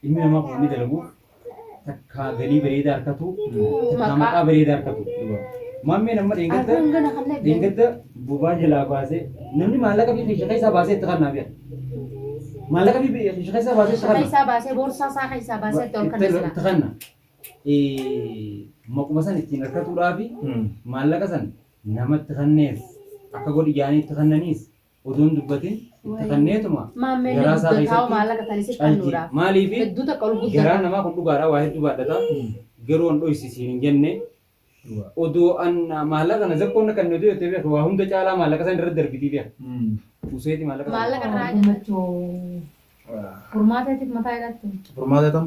Ilmi namaa kun inni dalagu takkaa galii bareedaa harkatu takkaa maqaa bareedaa harkatu. Maammeen amma dheengadda dheengadda bobaa jalaa baasee namni maallaqa fi keesha keessaa baasee itti kannaa bi'a. Maallaqa fi keesha keessaa baasee itti kannaa. Keessaa baasee boorsaa isaa keessaa baasee itti ol kanna sila. Itti kanna. Maquma san ittiin harkatuudhaa fi maallaqa san namatti kannees akka godhi jaanii itti kannaniis Odoo hin dubbatin katanneetuma Maammeen garaa isaa guddataa keessatti maallaqa kan isif calji. kennuudhaaf. Maaliif Hedduu takka ol garaan guddata. namaa kun dhugaadha waa hedduu baadhata. Garuu an dhoysisiin hin jenne. Odoo an maallaqa na zakkoon na kenne odoo jettee beektu waa hunda caalaa maallaqa san irratti darbitii beektu. Useeti maallaqa sana. Maallaqa irraa Gammachuu furmaataatiif mataa hidhattu. Furmaata tam?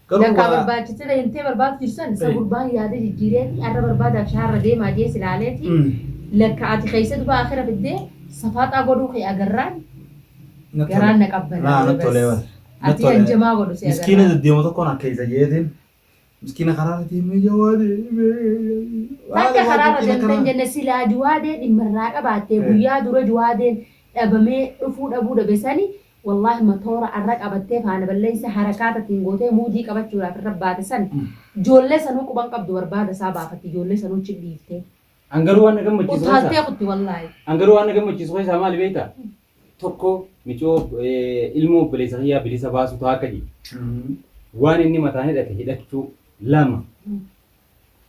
Garuu Lakkaa waa- barbaachisira himtee barbaadu jirsan isa Eh. gurbaan yaada jijjiireeti arra barbaadaaf shaarra deemaa jee silaaleeti Mm. lakka ati keessa dubaa akira fiddee safaaxaa godhuu kee agarraan Na tole. garaan na qabban Naa na tole bar. Na ati tole. hanjamaa godhu si Miskiina agarraan deddeema tokkoon akka isa jeetiin. Miskiina karaa irra deemee jawaade. Bakka karaarra deemtan jenne silaa juwaadee dhimmarraa qabaattee Eh. guyyaa dura juwaadeen dhabamee dhufuu dhabuu dhabesani Wallahi matoora arra qabattee faana balleessa harakaata ittiin gootee muudii qabachuudhaaf irra baate san joollee sanuu quban qabdu barbaada isaa baafatti joollee sanuu chip dhiiftee. An garuu waan na gammachiisu keessaa. Utaaltee kutti wallahi. An garuu waan na gammachiisu keessaa maali beektaa? Tokko micoo ilmoo obboleessa kiyyaa bilisa baasuu ta'a akka jedhe. Waan inni mataan hidhate hidhachuu lama.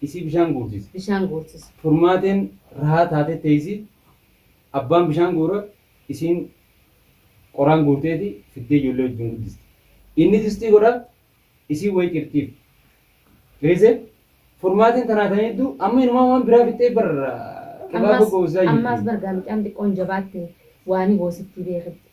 isii bishaan guursisa. bishaan guursisa. Furmaateen rahaa taatee teessi, abbaan bishaan guura, isiin qoraan guurteeti fiddee ijoollee wajjin guddisti. Inni distii godha, isiin wayii cirtiif. Beese, furmaateen tanaa tan hedduu, amma inumaa waan biraa fixxee bar qibaaba Ammaas, goosisaa ammaas jirti. bar gaa mucaan xiqqoon jabaatte waanii goosittii beekitti.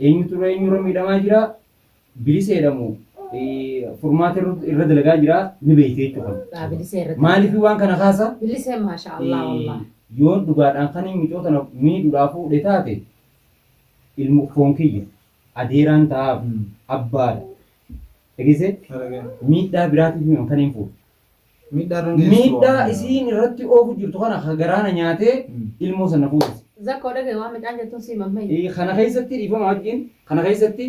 Eenyutu irra eenyu irra miidhamaa jira biliseedha moo furmaata irra dalagaa jira ni beeyte jechuudha. Daa bilisee irratti. Maaliif waan kana kaasa? Bilisee maashaa Allah wallah. Yoon dhugaadhaan kan hin micoo tana miidhuudhaa fuudhe taate ilmu foon kiyya adeeraan ta'aaf abbaadha. Dhageessee miidhaa biraatiif mi'oon kan hin fuudhe. Miidhaa isiin irratti oofu jirtu kana ka garaa na nyaatee ilmoo san na fuudhise. Zakkoo dhagahi waan mucaan jettuun sii mammayi. Eh, Kana keessatti dhiifama wajjin kana keessatti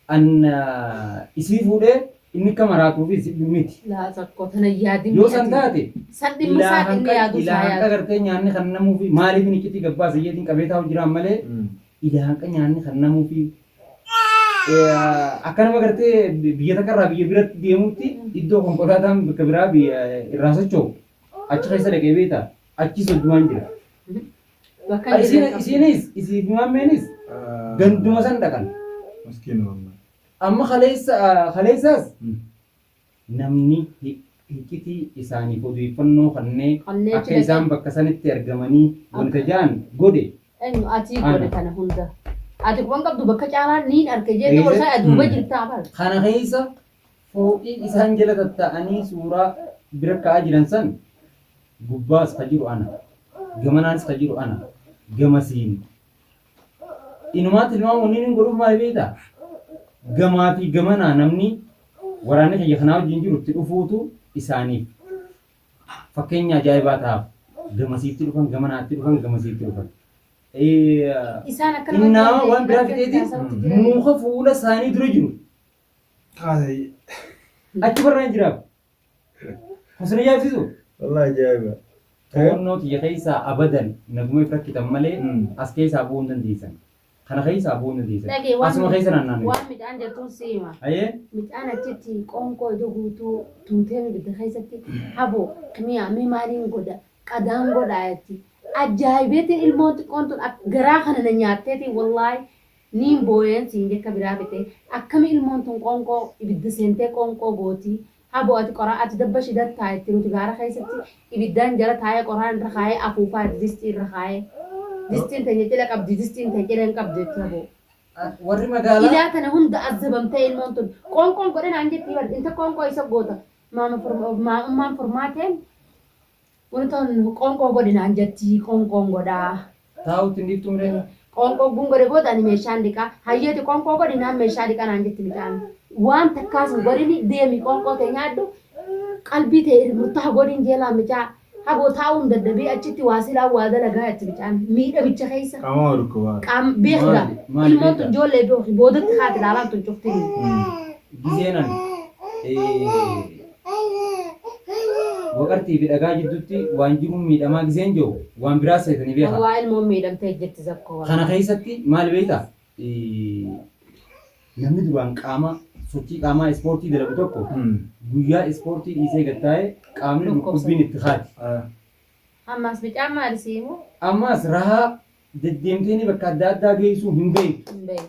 an ah, isii fuudhee inni akka maraatuu fi si- miti. Laa zakkoo tana hin yaadin. Yoo san taate San dhimma isaa ilaahan dhimma yaaduu isaa ilaahan yaadu. agartee nyaanni kan namuu fi maaliif inni iccitii gabbaa sayyeetiin qabee taa'u jiraan malee ilaahan nyaanni kan namuu fi akka nama gartee biyya takka irraa biyya biratti deemutti iddoo konkolaataan bakka biraa biyya irraa socho'u achi keessa dhaqee beekta achi soddumaan jira. Bakka inni Isiin- jalqabu. Isiinis isiin maammeenis ganduma san dhaqan. Maskiin wallah. Amma kaleessa kaleessaas Hmm. Namni hiccitii isaaniif odeeffannoo kannee Kannee akka achi isaan dhaqee- bakka sanitti argamanii wanta ja'an godhe Eenyu ati Ana. godhe kana hunda. Ati quban qabdu bakka caalaa niin arke jeettee Eessa? warsaa aduuba Hmm. jirtaa bar. kana keessa fooqii isaan jala tatta'anii suuraa bira ka'aa jiran san gubbaas ka jiru ana gamanaanis ka jiru ana gamasiin Inumaa tilmaama wanni inni godhuuf maali beektaa? Gamaa fi gamanaa namni waraanni kiyya kanaa wajjin jiru itti dhufuutu isaaniif fakkeenya ajaa'ibaa ta'aaf. Gamasiitti dhufan, gamanaatti dhufan, gamasiitti dhufan. Innaa waan biraa fixeeti muuka fuula isaanii dura jiru. Achi barraan jiraaf. Hasan ajaa'ibsiisu. Wallahi ajaa'iba. To'annoo tiyya keessaa abadan naguma if rakkitan malee Mm. as keessaa bu'uu hin dandeessan. Kana keessaa bu'uu hin dandeessan. Dhagee waan Asuma keessa midhaan- naannoo. waan midhaan jettuun si hima. Ayee Midhaan achitti qoonqoo iddoo guutuu tuutee ibidda keessatti haboo mi'a mi maaliin godha qadaan godha jetti. Ajaa'ibeetiin ilmoon xiqqoon tun ak- garaa kana na nyaatteetiin wallaahi Niin booyeen siin jekka biraa bite akkami ilmoon tun qoonqoo ibidda seentee qoonqoo gooti habo ati qoraa ati dabba shidar taayetti nuti gaara keessatti ibiddaan jala taayee qoraan irra kaayee afuufaa ati distii irra kaayee distiin teenya cila qabdi distiin tee cila hin qabdu jetti habo Warri magaalaa. ilaa tana hunda azzabamtee ilmoon tun qoonqoon godhe naan jetti bar inta qoonqoo isa goota maama furma- maamummaan furmaateen Kun tun qoonqoo godhi naan jetti, qoonqoon godha. Taa'uu ittiin dhiiftu miree. Qoonqoo ogguun godhe booda ani meeshaan dhiqa. Hayyee ati qoonqoo godhi naan meeshaa dhiqa naan jetti mucaan. Waan takkaas hin godhini deemi qoonqoo tee nyaadhu, qalbii tee irr murtaha godhiin jeelaan mucaa. Haboo taa'uun dadhabii achitti waa silaan waa dalagaa jetti mucaan. Miidhamicha keessa. Qaama waa dhukkubaa. Qaam beeki gaa. Maali? Maali Ilmoon tun beekaa? ijoollee beeki boodatti haati ilaalaan tun cuftinuu. Gizeen ani. Waqartii fi dhagaa jidduutti waan jiruun miidhamaa giseen jiru waan biraa seetanii Kan beekaa. waa ilmoon miidhamtee jirti zakkoo waan. Kana keessatti maal beektaa? Eh, Namni duraan qaama sochii qaamaa ispoortii dalagu tokko guyyaa ispoortii dhiisee gad taa'ee qaamni Dhukkubsa. dhukkubbiin itti kaati. Ammaas bicaan maali siimu? Ammaas rahaa deddeemtee bakka adda addaa geessuu hin beektu. Hin beeku.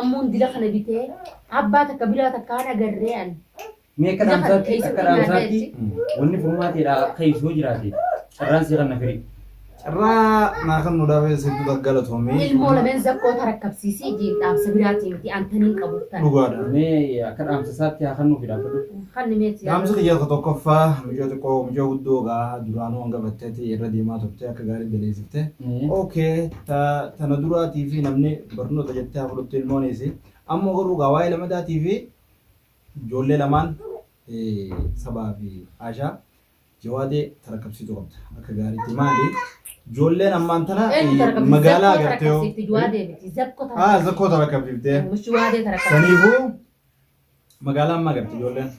Ammoo intila kana bitee abbaa takka biraa takka hin agarree ani. Mee akka dhaamsaatti akka dhaamsaatti wanni furmaateedha akka ibsuu jiraate carraan si kanna firii. Carraa naa kan nu dhaabee sitti galatoomi. Ilmoo lameen zakkoo tarakkabsiisii jiin dhaamsa biraatiin miti antaniin qabuuf tana. Dhugaadha. Mee akka dhaamsa isaatti haa kannuuf dhaabadhu. Kan nimeetti Dhaamsa kiyya ka tokkoffaa mucaa xiqqoo mucaa guddoo gaa duraanuu hanga batteetti irra deemaa turte akka gaarii daleessifte. Mm. Okay Ta tana duraa tiifii namni barnoota jettee haa fudhattu ilmoon isi. Amma garuu gaa waa'ee lamadaa tiifii ijoollee lamaan sabaa fi aashaa jawaadee tarakkabsiitu qabda akka gaariitti maali ijoolleen ammaan tana magaalaa agartee haa zakkoo tarakkabsiiftee saniifuu Magaalaa ammaa galti ijoolleen.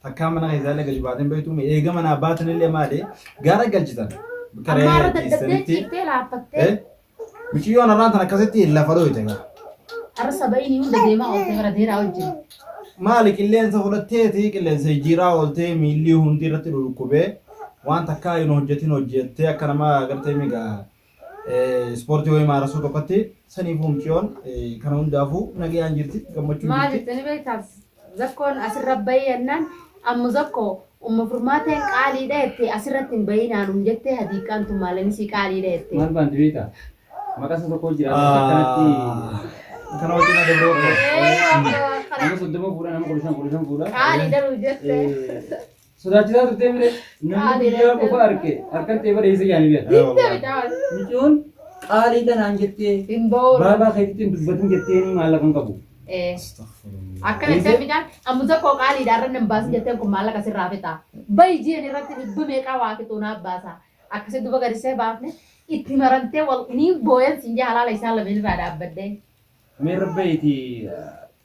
Takkaa mana keessaa illee gadi baatee hin beektu. Eega manaa baatan illee maali? Gaara galchitan. Bakka Ammaa re'ee irra dadhabdee ciistanitti. ciiftee laaffattee Eh? Miciyyoon har'aan tan akkasitti lafa dhooyte gaa. har'a saba'iin hunda deemaa oolte bara deeraa wajjin. Maali qilleensa fudhatteeti qilleensa jijjiiraa ooltee miilli hundi irratti dhukkubee waan takkaa hin hojjetin hojjettee akka nama agartee migaa Ispoortii wayii maarasuu tokkotti saniifuu muciyoon kana hundaafuu nagayaan jirti gammachuun Maal jirti. jettanii beektaa? Zakkoon asirra bahee jennaan ammu zakko umma furmaateen qaaliidha jettee asirratti hin bahinaan um jettee hadiiqaan tun maalan isii qaaliidha jettee. Maal baanti beektaa? Maqaa isa tokko jira. Akkanatti Kana wajjin na dabroo koo. Ee, akkana nama soddoma fuudha nama kudha shan kudha shan fuudha. qaaliidha nu jettee. Sodaachisaa turtee mire namni biyyaa qofa arge harkan ta'e bareessa jaanii bira. Micoon qaalii kanaan jettee baabaa keetitti hin dubbatin jettee ni maallaqa hin qabu. Akkana itti midhaan amma tokko qaaliidha irra nan baasin jetteen kun maallaqa sirraa fixaa. Bayi jiran irratti dhibba meeqaa waa fixuu naaf baasaa. Akkasitti duba gadisee baafne itti marantee wal ni booyan siin jee halaala isaan lameen irraa dhaabbadde. Mee rabbeeti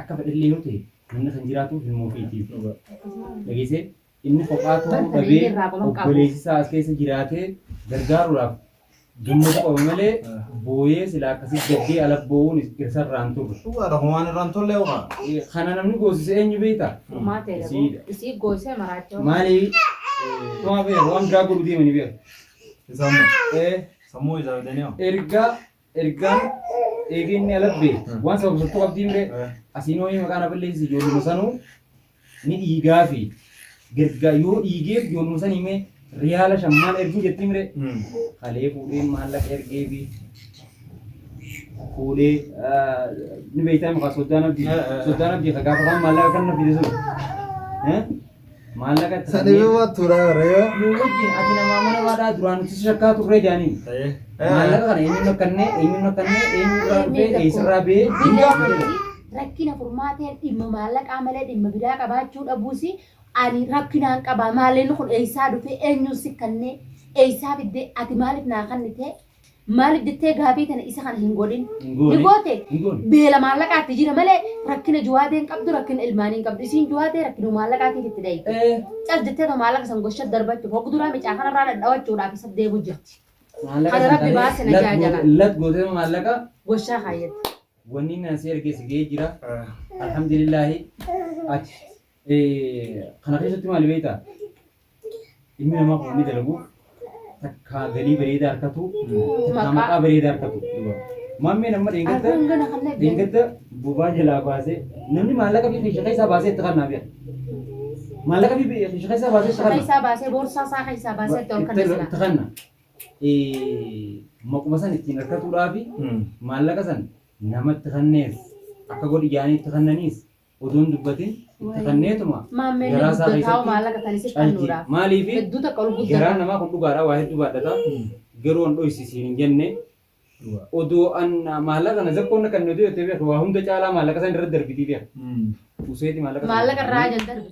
Akka fedhellee yoo ta'e namni kan jiraatu ilmoo ofiitiif. Dhageessee inni kophaa ta'uu dhabee obboleessi isaa as keessa jiraatee gargaaruudhaaf gammachuu qaba malee booyee silaa akkasii gaddee ala boo'uun irsa irraan turre. Dhugaadha kun waan irraan tolle ho'a. Kana namni goosise eenyu beekta? Isiidha. Isii goosee maraachoo. Maali? Tumaa beeku waan biraa godhu deemanii beeku. Isaammoo Eh, sammuu isaa bitanii hoo. Erga ergaan eegee inni alabbee waan sababsattuu qabdii mire asiin ho'ee maqaa na balleessi ijoolluma sanuu ni dhiigaa fi gergaa yoo dhiigeef ijoolluma san himee riyaala shammaan erguu jettii mire kalee fuudhee maallaqa ergee fi fuudhee ni beektaa maqaa soddaan abdii soddaan abdii ka gaafa isaan maallaqa kan na fide sun Maallaqa itti Sani kennee- bima tura reo. Nuu wajjin ati nama amanamaadhaa duraan nuti si shakkaa turree jaaniin. Ta'ee. Maallaqa kana eenyuun rakkannee eenyuun rakkannee eenyuun irraa dhufee eessarraa ba'ee hin gaafatu. rakkina furmaatee dhimma maallaqaa malee dhimma biraa qabaachuu dhabuus ani rakkinaan qaba maaleen kun eessaa dhufee eenyuun si kannee eessaa fiddee ati maaliif naa kannitee Maaliif jettee gaafii tana isa kana hin godhin. Hin goone. Ni goote. Hin goone. Beela maallaqaatti jira malee rakkina juwaatee hin qabdu rakkina ilmaanii hin qabdu. Isiin juwaatee rakkina maallaqaatiif itti dhayi. Eh, Cal jettee too maallaqa san gosha darbachuuf hoggu duraa micaa kanarraa dhadhawachuudhaaf isa deemu jirti. maallaqa Kana rabbi santalee baase na lat jaajala. goote- Lat gootee maallaqa Goshaa kaayyatti. wanni naan si erge si ga'ee jira. Alhamdulillaahi ati Kana keessatti maali beektaa? Ilmi namaa kun inni dalagu takka galii bareedaa harkatu takka maqaa bareedaa harkatu. Maammeen amma dheengadda dheengadda bobaa jalaa baasee namni maallaqa fi keesha keessaa baasee itti kannaa beeka. Maallaqa fi keesha keessaa baasee itti kannaa. Keessaa baasee boorsaa isaa keessaa baasee itti ol kannaa. Itti kannaa. Maquma san ittiin harkatuudhaa fi maallaqa san namatti kannees akka godhi jaanii itti kannaniis Utuu hin dubbatin katanneetuma Maammeen garaa isaa guddataa keessatti maallaqa kan isif calqii. kennuudhaaf. Maaliif Hedduu takka ol garaan guddata. namaa kun dhugaadha waa hedduu baadhata. Garuu an dhoysisiin hin jenne. Odoo an maallaqa na zakkoon na kannatu yoo ta'e beeku waa hunda caalaa maallaqa san irra darbitii beeku. Useeti maallaqa sana Maallaqa irraa fudhannee- jan darbe.